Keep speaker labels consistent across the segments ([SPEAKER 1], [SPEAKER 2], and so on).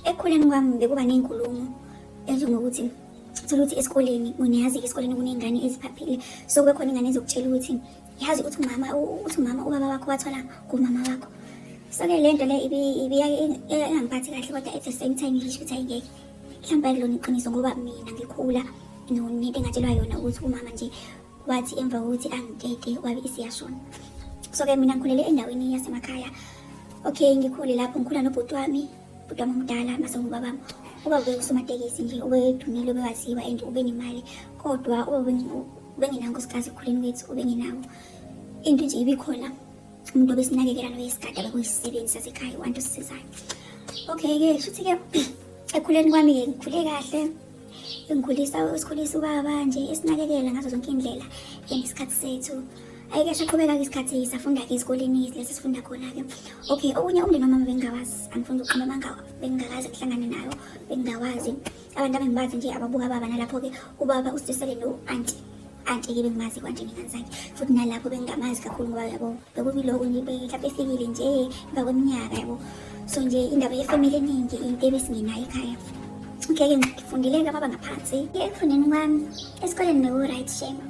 [SPEAKER 1] Ekukhuleni kwami bekuba ney'nkulumo ezinjengokuthi thola ukuthi esikoleni niyazi esikoleni kuney'ngane eziphaphile so kube khona ingane ezokutshela ukuthi yazi uthi umama uthi umama ubaba wakho wathola kumama wakho so-ke le nto le ingangiphathi kahle kodwa at the same time ngisho ukuthi ayingeke mhlawumbe akulona iqiniso ngoba mina ngikhula nento engatshelwa yona ukuthi umama nje wathi emva kokuthi angitete wabe isiyashona so-ke mina ngikhulele endaweni yasemakhaya okay ngikhule lapho ngikhula nobhuti wami bhuti wami omdala mase ngubabam ubaba bekusomatekisi nje ubedumile ubewaziwa and ubenemali kodwa ubengenawo nkosikazi ekukhuleni kwethu ubengenawo into nje ibikhona umuntu obesinakekela noyesigada bekuyisisebenzi sasekhaya wantu sisizayo okay-ke shuthi-ke ekhuleni kwami-ke ngikhule kahle engikhulisa esikhulisa ubaba nje esinakekela ngazo zonke indlela ngesikhathi sethu ayike saqhubeka-ke isikhathi safunda-ke ezikoleni lesi sifunda khona-ke okay okunye umndeni wamama bengingawazi angifuni ukuqhuma amanga bengingakazi kuhlangane nayo bengingawazi abantu abengibazi nje ababuka baba nalapho-ke ubaba usisele no-anti anti-ke bengimazi kwanje nginganzange futhi nalapho bengingamazi kakhulu ngoba yabo bekuliloko nje mhlawumbe efikile nje emva kweminyaka yabo so nje indaba yefamili eningi into ebesingenayo ekhaya ngeke ngifundile ke baba ngaphansi ekufundeni kwami esikoleni beku-right shame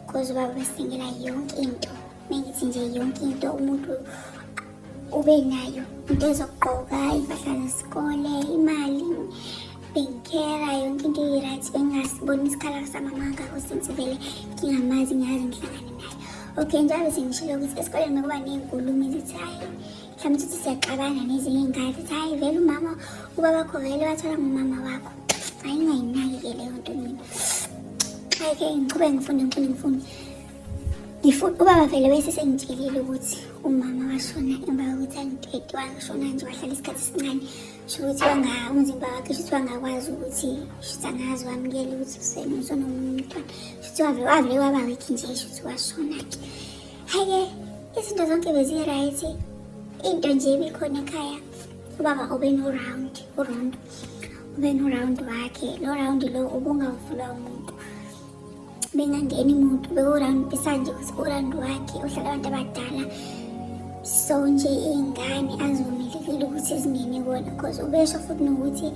[SPEAKER 1] cause ubaba besingela yonke into mengithi nje yonke into umuntu ube nayo into ezokugqoka impahla nesikole imali bengikera yonke into i-right bengasiboni isikhala samama ngakho since vele ngingamazi ngiyazi ngihlangane naye okay njalo sengishilo ukuthi esikoleni nokuba ney'nkulumo ezithi hhayi mhlawumbe ukuthi siyaxabana nezinye iy'ngane zithi hhayi vele umama ubabakho vele wathola ngumama wakho ayingayinaki-ke leyo nto mina ayike ngiqhube ngifunde ngifunde ngifunde Ngifuthi ubaba vele bese sengitshelile ukuthi umama washona emva kokuthi angitete washona nje wahlala isikhathi esincane sho ukuthi wanga umzimba wakhe shuthi wangakwazi ukuthi shuthi angazi wamukela ukuthi usenosona omunye umntwana shuthi wavele wavele waba wekhi nje shuthi washona-ke hhayi-ke izinto zonke beziyi-right into nje ibikhona ekhaya ubaba ubenorawund urondo ubenorawundi wakhe lo rawundi lo ubungavulwa umuntu bengangeni muntu bewuround besanje uround wakhe uhlala abantu abadala so nje iy'ngane azivumelekile ukuthi zingene kona because ubesho futhi nokuthi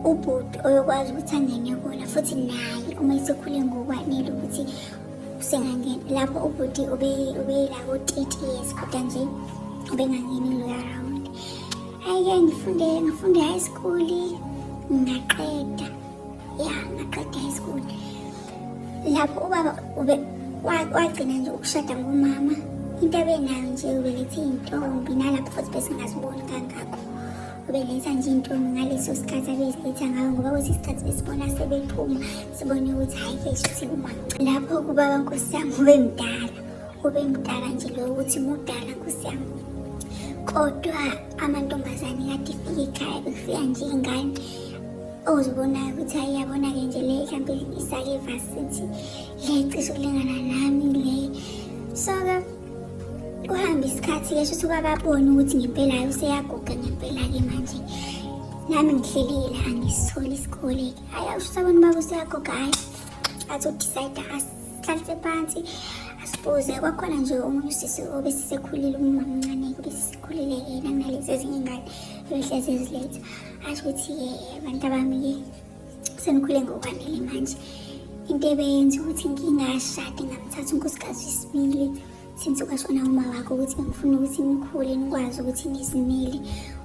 [SPEAKER 1] ubhuti oyokwazi ukuthi angene kona futhi naye uma esekhule ngokwanele ukuthi usengangena lapho ubhuti ubeyila ko-thirty years kodwa nje ubengangeni loya round hhayi-ke ngifunde ngifunde high school ngaqeda ya ngaqeda high school lapho ubaba ube wagcina nje ukushada ngomama into abenayo nje ubelethe iy'ntombi nalapho futhi besingaziboni kangako ubeletha nje iy'ntombi ngaleso sikhathi abeziletha ngayo ngoba kwesinye isikhathi besibona sebephuma sibone ukuthi hhayi ke shuthi kumamca lapho kubaba nkosi yami ube mdala ube mdala nje loyo ukuthi mudala nkosi yami kodwa amantombazane kade ifike ekhaya bekufika nje iy'ngane ozibonayo ukuthi hayi yabona-ke nje le mhlampe isake ivasithi le cishe ukulingana nami le so-ke kuhambe isikhathi-ke shuthi kwababona ukuthi ngempela-ke useyaguga ngempela-ke manje nami ngihlelile angisitholi isikole-ke hhayi awushuthi abantu baba useyaguga hhayi athi udicide asihlalise phansi asibuze kwakhona nje omunye usisi obesisekhulile umamncane-ke obesisekhulile-ke nanginalezi ezinye ingane ebehlezi eziletha asho ukuthi-ke abantu abami-ke senikhule ngokwanele manje into ebeyenza ukuthi ngingashadi ngamthatha unkosikazi wesibili since kwashona uma wakho ukuthi bengifuna ukuthi nikhule nikwazi ukuthi nizimele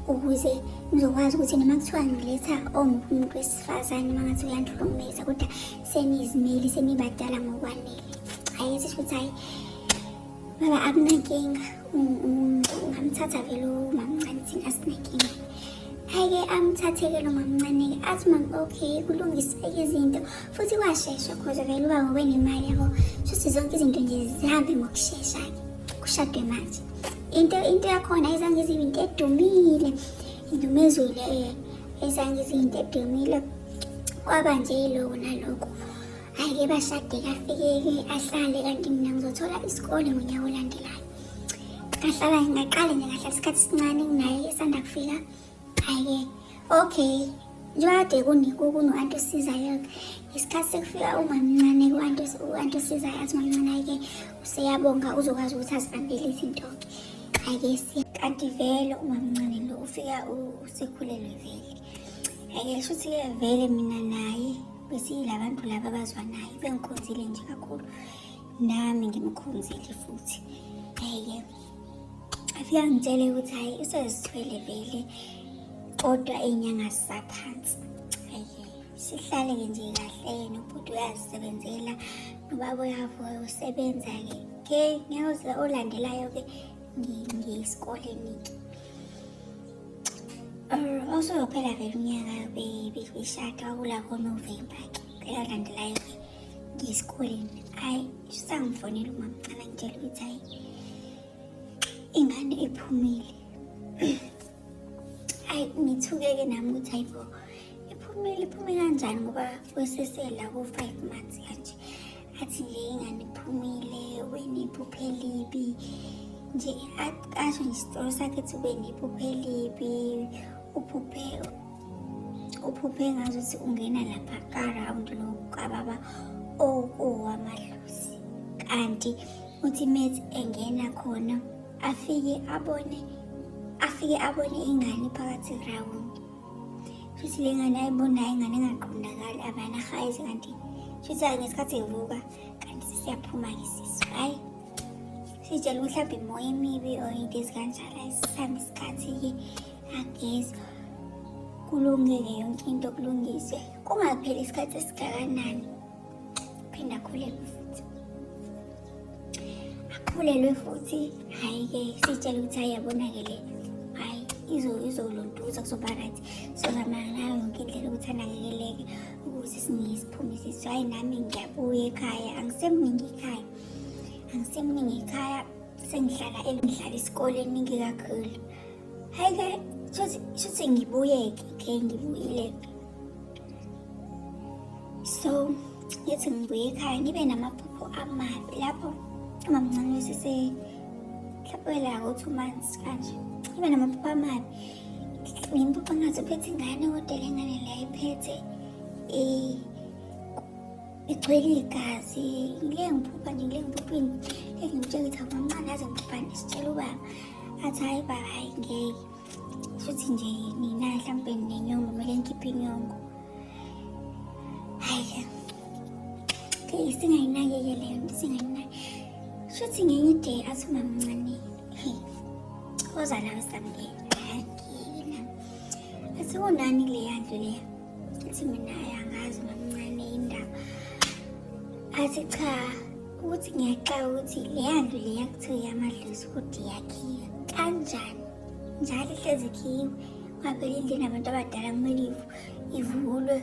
[SPEAKER 1] ukuze ngizokwazi ukuthi noma kuthiwa ngiletha omubi umuntu wesifazane uma ngathi uyandihlukumeza kodwa senizimeli senibadala ngokwanele hhayi esisho ukuthi hhayi Baba akunankinga ungamthatha vele umamncane thina sinenkinga ayike amthatheke lo mamncane-ke athi mam okay kulungiseke izinto futhi kwashesha khoze vele uba ngobenemali yabo shuthi zonke izinto nje zihambe ngokushesha-ke kushadwe manje into into yakhona izange zibe into edumile indumezulu ezange zibe into edumile kwaba nje yiloko naloko hayi ke bashade kafikeke ahlale kanti mina ngizothola isikole ngonyaka olandelayo ngahlala ngaqale nje ngahlala isikhathi sincane kunaye esanda kufika hayi ke okay njengoba kade kuno-anti osizayo isikhathi sekufika umamncane ku-anti osizayo athi umamncane-ke useyabonga uzokwazi ukuthi azibambele izinto-ke ake si kanti vele umamncane lo ufika usekhulelwe vele ake shuthi-ke vele mina naye besiyila bantu laba abazwanayo bengikhonzile nje kakhulu nami ngimkhonzile futhi eye afike angitshele ukuthi hhayi usezithwele vele kodwa iy'nyanga zisaphansi eye sihlale-ke nje kahle nobhuti uyazisebenzela nobaba uyavuka usebenza-ke ke ngeke olandelayo-ke ngiyesikoleni-ke usuzophela vele unyaka bishada wakula konovemba ke elandelayo ke ngiyesikoleni hhayi sangifonela umamcala ngitshela ukuthi hhayi ingane ephumile hhayi ngithuke-ke nami ukuthi hhayi bo iphumile iphume kanjani ngoba kwesesela ko-five months kanje athi nje inganiphumile wena iphupha elibi nje asho nje isitori sakhe ethi wena iphupha elibi uphuphe uphuphe ngazo ukuthi ungena lapha karawundi lokukababa okuwamadlozi kanti uthi methi engena khona afike abone afike abone ingane phakathi erawundi Shuthi le ngane ayibonayo ingane engaqondakali abana hayizi kanti shuthi ngesikhathi evuka kanti sesiyaphuma-ke sisu hhayi sitshela ukuthi mhlawumbe imoya emibi or into ezikanjalo ayisisambe isikhathi-ke agezi kulungeke yonke into kulungiswe kungapheli isikhathi esingakanani phinda akhulelwe futhi akhulelwe futhi hhayi-ke sitshele ukuthi hhayi yabona-ke le hhayi izolontuza kuzoba right sizozama ngayo yonke indlela ukuthi anakekeleke ukuze siningi siphume sithi hhayi nami ngiyabuya ekhaya angisemningi ekhaya angisemningi ekhaya sengihlala elidlala esikoleni ningi kakhulu Hayi ke shothi shothi ngibuyeke ke ngibuyile. So ngithi ngibuye ekhaya ngibe namaphupho amabi lapho umamncane wesese mhlawumbe la ngo-two months kanje ngibe namaphupho amabi ngimbuxa ngathi uphethe ingane kodwa le ngane leyo iphethe um igcwele igazi ngile ngiphupha nje ngile ngiphuphini lezi ngitshela ukuthi akwamncane aze ngiphuphane sitshela ubaba athi hayi baba hayi ngeke shuthi nje nina mhlawumbe ninenyongo kumele ngikhiphe inyongo hayi ke singayinakeke leyo nto singayinake shuthi ngenye ide athi umamncane oza lawe samngena angina athi unani leya nto leya athi mina ayangazi mamncane indaba athi cha ukuthi ngiyaxaka ukuthi leya ndlu leya kuthiwa yamadlozi ukuthi yakhiwe kanjani njalo ihlezi khiwe ngaphela indlini abantu abadala kumele ivulwe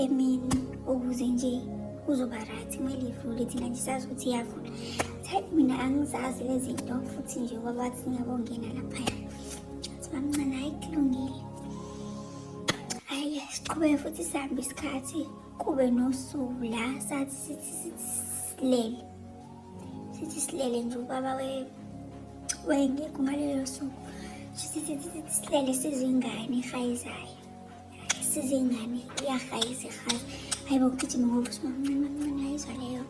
[SPEAKER 1] emini ukuze nje kuzoba right kumele ivule thina nje sazi ukuthi iyavula thayi mina angizazi lezi nto futhi nje kwabathi singabongena laphaya athi mamncane hayi kulungile Hhayi, siqhubeke futhi sihambe isikhathi kube nosuku la sathi sithi sithi silele sithi silele nje ubaba wengekho ngalelo suku sithi sithi sithi silele sizingane ihayizayo sizingane iyahayiza ihayiza hayi bokugijima ngoba usimamncane mamncane ayizwa leyo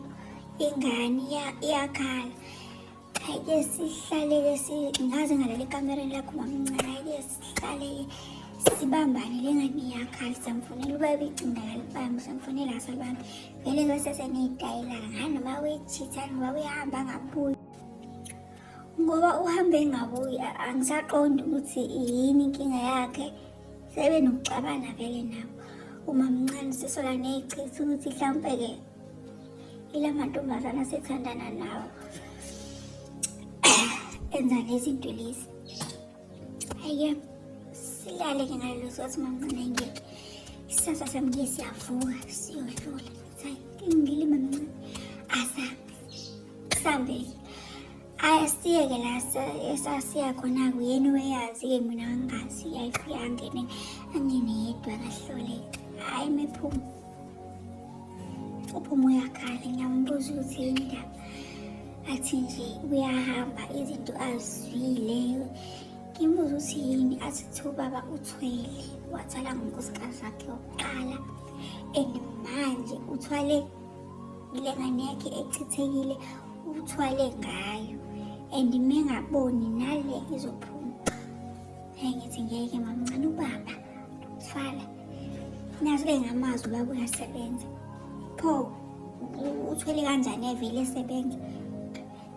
[SPEAKER 1] ingane iyakhala Ke sihlale ke si ngaze ngalale ekamereni lakho mamncane ke sihlale sibambane lengane iyakhali samfonela ubaba icinga kalibambi samfonela asalibambi vele kwesese neyitayilana ngani noma uyechithani ngoba uyahamba angabuyi ngoba uhambe engabuyi angisaqondi ukuthi yini inkinga yakhe sebe nokuxabana vele nabo umamncane sisola neyichitha ukuthi mhlawumpe-ke ila mantombazana asethandana nawo enza lezi nto lezi ayike silale ke ngalelo sikhathi mamncane ngeke isasa sami ke siyavuka siyodlula sayi ngilima mncane asa sambeki Ayi asiyeke la esasiya khona kuyena uyazi-ke mina angazi yayifika angene angene yedwa kahloleka hhayi mephuma uphuma uyakhala ngiyambuza ukuthi yini ndaba athi nje uyahamba izinto azwile ngimbuza ukuthi yini athi kuthiwa ubaba uthwele wathwala ngonkosikazi wakhe wokuqala and manje uthwale ile ngane yakhe echithekile uthwale ngayo and mengaboni nale izophuma hey ngithi ngeke mamncane ubaba uthwala nazo ke ngamazwi ubaba uyasebenza pho uthwele kanjani evele esebenza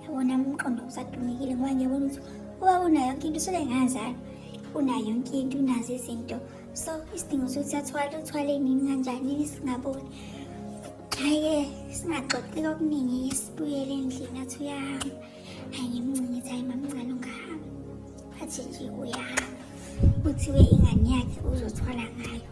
[SPEAKER 1] yabona umqondo usadumekile ngoba ngiyabona ukuthi ubaba unayo yonke into sele ngazalwa unayo yonke into unazo izinto so isidingo sokuthi athwale uthwale nini kanjani singaboni haye singaxoxi okuningi sibuyele endlini athi uyahamba hayi ngimncane ethi hayi mamncane ungahamba athi nje uyahamba kuthiwe ingane yakhe uzothwala ngayo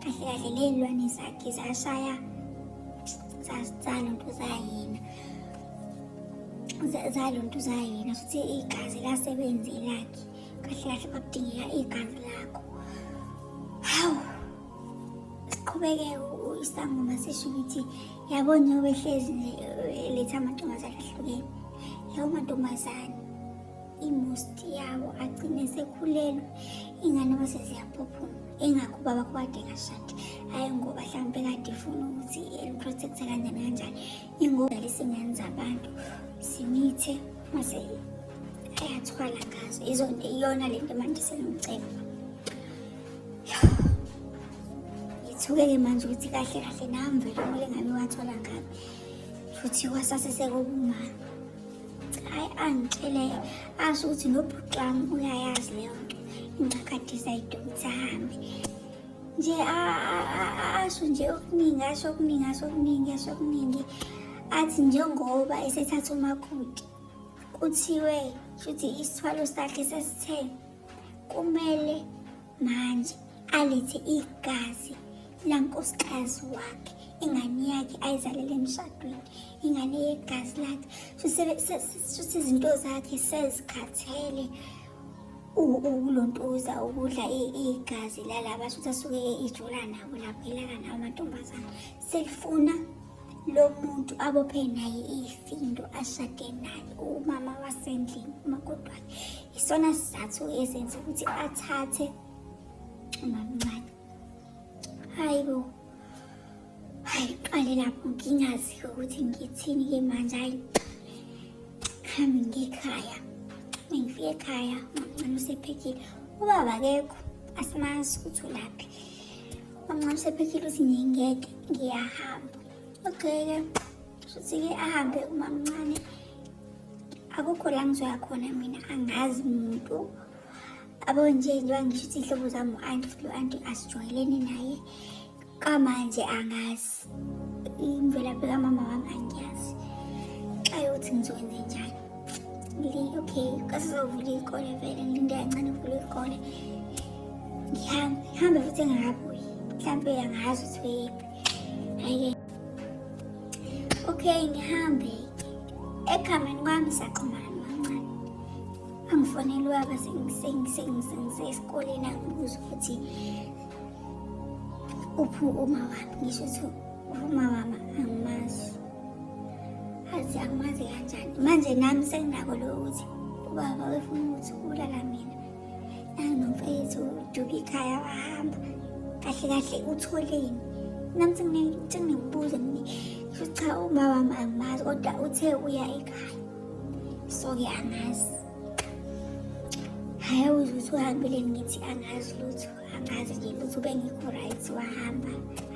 [SPEAKER 1] kahle kahle ley'lwane zakhe zashaya zaluntu zayena zaluntu zayena futhi igazi lasebenzi lakhe kahle kahle kwakudingeka igazi lakho hawu siqhubeke isangoma sisho ukuthi yabo njengoba ehlezi nje eletha amantombazane ahlukene lawo mantombazane imosti yabo agcine sekhulelwe ingane base ziyaphuphuma ingakho ubaba kwade kashadi hhayi ngoba mhlawumpe kade ifuna ukuthi eliprotecthe kanjani kanjani ingoba lisingane zabantu simithe mase ayathwala ngazo izonto iyona le nto manje sengiceba ngithuke-ke manje ukuthi kahle kahle nami vele kumele ngabe wathola ngabe futhi kwasase sekobumama Hayi angitshele asho ukuthi nobhuti wami uyayazi leyo nto ingakadiza idonsa ahambe nje asho nje okuningi asho okuningi asho okuningi asho okuningi athi njengoba esethatha umakoti kuthiwe shuthi isithwalo sakhe sesithe kumele manje alethe igazi lankosikazi wakhe ingane yakhe ayizalele emshadweni ingane yegazi lakhe shuthi izinto zakhe sezikhathele ukulontuza ukudla igazi lalaba shuthi asuke ijula nabo lapho ilala nawo amantombazane Selifuna lo muntu abophe naye ifindo ashade naye umama wasendlini umakoti wakhe isona sizathu ezenza ukuthi athathe umamncane hayi bo hayi qale lapho ngingazi ukuthi ngithini ke manje hayi hambi ngekhaya mengifike ekhaya umamncane usephekile ubaba kekho asimazi ukuthi ulaphi Mamncane phekhile uthi ngingeke ngiyahamba. Okay-ke shuthi-ke ahambe umamncane akukho la ngizoya khona mina angazi muntu abo nje njengoba ngisho ukuthi iy'hlobo zami u-anti futhi u-anti asijwayelene naye kamanje angazi imvelaphi kamama wami angiyazi xa yokuthi ngizokwenze njani okay kasizovula iy'kole vele ngilinde kancane kuvula iy'kole ngihambe futhi ngingabuyi mhlawumpe angazi ukuthi weyephi hhayi-ke okay ngihambe ekhameni kwami saqhumana mancane angifonelwaba sengisesikoleni angibuza ukuthi uphu uma wami ngisho ukuthi uma wami angimazi azi angimazi kanjani manje nami senginako lo ukuthi ubaba wefuna ukuthi ubulala mina nanginomfethu uduka ikhaya wahamba kahle kahle utholeni nami sengingibuze mina kusho cha uma wami angimazi kodwa uthe uya ekhaya so-ke angazi hhayi awuze ukuthi uhambile ngithi angazi lutho angazi nje futhi ubengekho right wahamba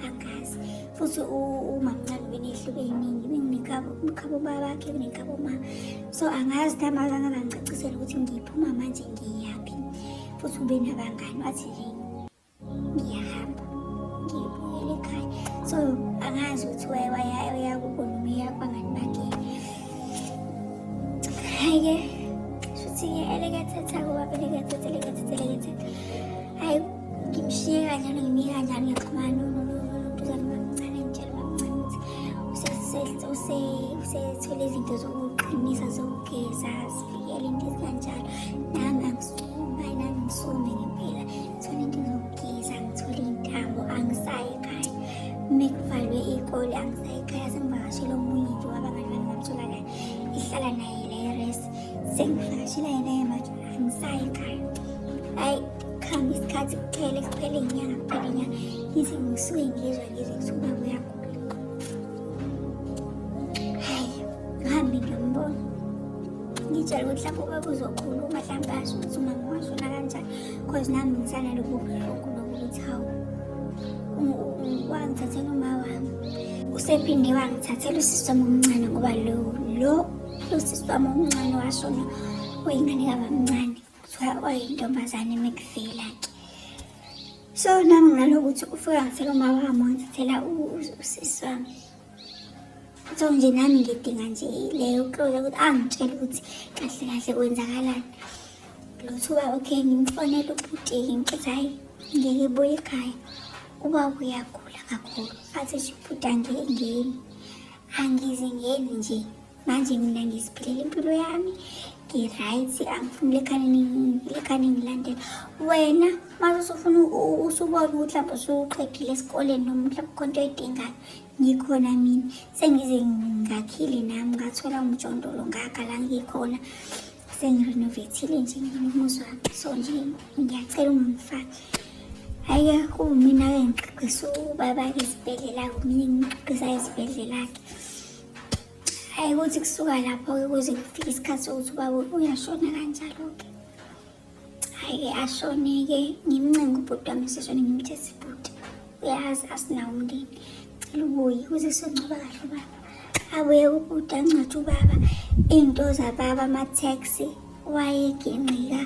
[SPEAKER 1] angazi futhi umamncane ubenehluke iningi benginekhabo umkhabo babakhe kunekhabo ma so angazi namazi angabangicacisela ukuthi ngiphuma manje ngiyaphi futhi ube nabangani wathi nje ngiyahamba ngibuyele ekhaya so angazi ukuthi wayewaya Hhayi-ke shuthi-ke elekethetha kuba belekethetha elekethetha elekethetha hhayi ngimshiye kanjalo ngimyeka njalo ngiyaxhumana nontuzane bamncane ngitshela bamncane ukuthi usethole izinto zokuqinisa zokugeza zivikele into ezikanjalo nami angisumi nami ngisumi ngempela mekuvalwe iy'kole angisayi ekhaya sengivakashele omunye nje wabangani bami bamtholakala ihlala naye leyo res sengivakashela yena ye manje angisayi ekhaya ayi kuhambe isikhathi kuphele kuphele inyanga kuphele inyanga ngithi ngisuke ngizwa ngizwe kuthi uba kuyagula hayi ngihambe ngiyambona ngitshela ukuthi lapho ubaba uzokhuluma mhlawumbe asho ukuthi umama washona kanjani cause nami ngisanalobo buhlungu lokuthi hawu wangithathela uma wami usephinde wangithathela usisi wami omncane ngoba lo lo usisi wami omncane washona uyingane kabamncane kuthiwa oyintombazane mekuvela ke so nami ngalokuthi ufika ngithela uma wami wangithathela usisi wami so nje nami ngidinga nje leyo closure ukuthi angitshele ukuthi kahle kahle kwenzakalani lothuba okay ngimfonele ubhuti ngithi hayi ngeke buye ekhaya uba uyagula kakhulu athi ubhuti angeke ngeni angize ngeni nje manje mina ngiziphilela impilo yami ngi-right angifuni lekhane ngilandela wena mase usufuna usubona ukuthi lapho usuqedile esikoleni noma mhlawumbe khona into oyidingayo ngikhona mina sengize ngakhile nami ngathola umjondolo ngakha la ngikhona sengirenovathile nje nginomuzi wami so nje ngiyacela ungangifaki hhayi-ke kuwumina-ke ngigqigqisa ubaba-ke esibhedlela-ke mina ngigqigqisa esibhedlela-ke Hhayi ukuthi kusuka lapho-ke kuze kufike isikhathi sokuthi ubaba uyashona kanjalo-ke. Hhayi-ke ashone-ke ngimncenga ubhuti wami seshone ngimthe sibhuti. Uyazi asinawo umndeni. Cela ubuye kuze sengcwaba kahle ubaba. Abuye kubhuti angcwatshe ubaba. Iy'nto zababa ama-taxi wayegingqika.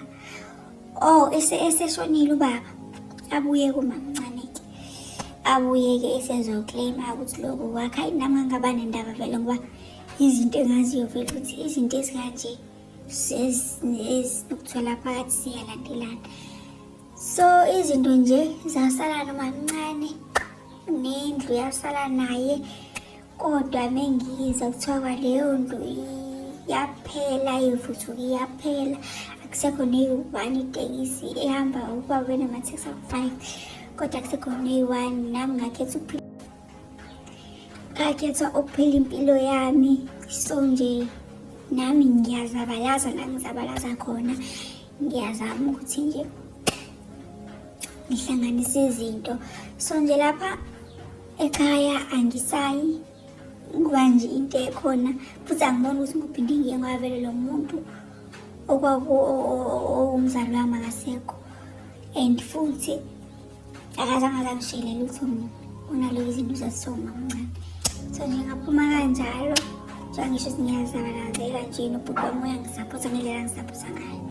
[SPEAKER 1] Oh, ese eseshonile ubaba. Abuye kumamncane ke. Abuye ke esezoclaim ukuthi lokho kwakha inami angaba nendaba vele ngoba izinto engaziyo vele ukuthi izinto ezikanje ezinokuthola phakathi siyalandelana. So izinto nje zasala nomamncane nendlu yasala naye. kodwa mengiyiza kuthiwa kwaleyo ndlu yaphela ivuthuka iyaphela akusekho neyi-one itekisi ehamba ukuba wena ama-six aku-five kodwa akusekho neyi-one nami ngakhetha ukuphila ngakhetha ukuphila impilo yami so nje nami ngiyazabalaza la ngizabalaza khona ngiyazama ukuthi nje ngihlanganise izinto so nje lapha Ekhaya angisayi kuba nje into ekhona futhi angiboni ukuthi ngubhindi ngiye ngwavele lo muntu owumzali wami akasekho and futhi akazange azangishele lutho mina unalo izinto zesoma mncane so nje ngaphuma kanjalo njengangisho ukuthi ngiyazabalaazela nje nobhuti wami uyangisaphotha ngendlela ngisaphotha ngayo